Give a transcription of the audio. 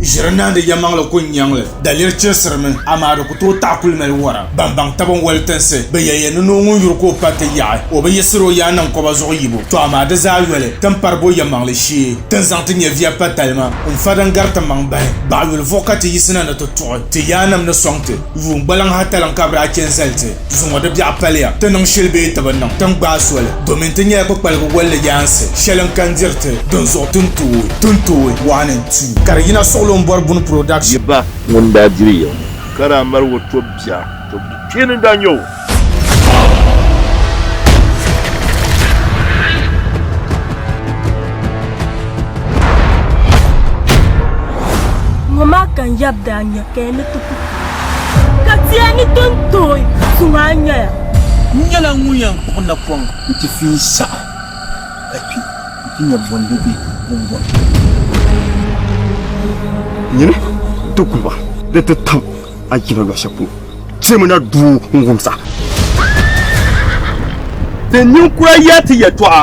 ʒiri naandi yɛmaŋli ku nyaŋli daliri chirisirimi amaa di ku tooi taɣi kuli mali wara ban baŋ taba n wali tinsi bɛ yɛliya ni noo ŋun yuri ka o pa ti yaɣi o bi yiɣisiri o yaa niŋ kɔba zuɣu yibu tɔ amaa di zaa yoli tin pari bo yɛmaŋli shee tin zaŋ ti nyɛviya pa talima n fa din gari ti maŋ bahi baɣa yuli vuɣu ka ti yiɣisina ni ti tuɣi ti yaanima ni sɔŋ ti yuun gbaliŋ hataliŋ ka bɛ daa chɛ n zali ti Zuŋɔ di biɛɣu paliya ti niŋ shili bee ti bi niŋ, ti ni gbaai soli domin ti nyɛla kpukpaligu bolli yaansi shɛli n kan diri ti dinzuɣu ti ni tooi ti ni tooi one and two. Ka di yina suɣili o ni bɔri Buni Production. Yi ba ŋun daa diri ya ŋɔ. Ka daa mali o tɔb bia. Tɔb bi kpeeni n-daa nyɛ o. Ŋɔ maa ka n yab daa nya ka ya ni ti ku. Ka tia ni ton tooi su maa nyɛya. N nyɛla ŋun yɛn kpuɣi napɔŋ nti fi yi saha ka kpi nti nya bɔ n-di be din bɔri. Nyini ti guba ni ti tam a jina luɣ shɛli polo, timi na duu n-wumsa. Ti ninkura yɛli ti yɛtɔɣa.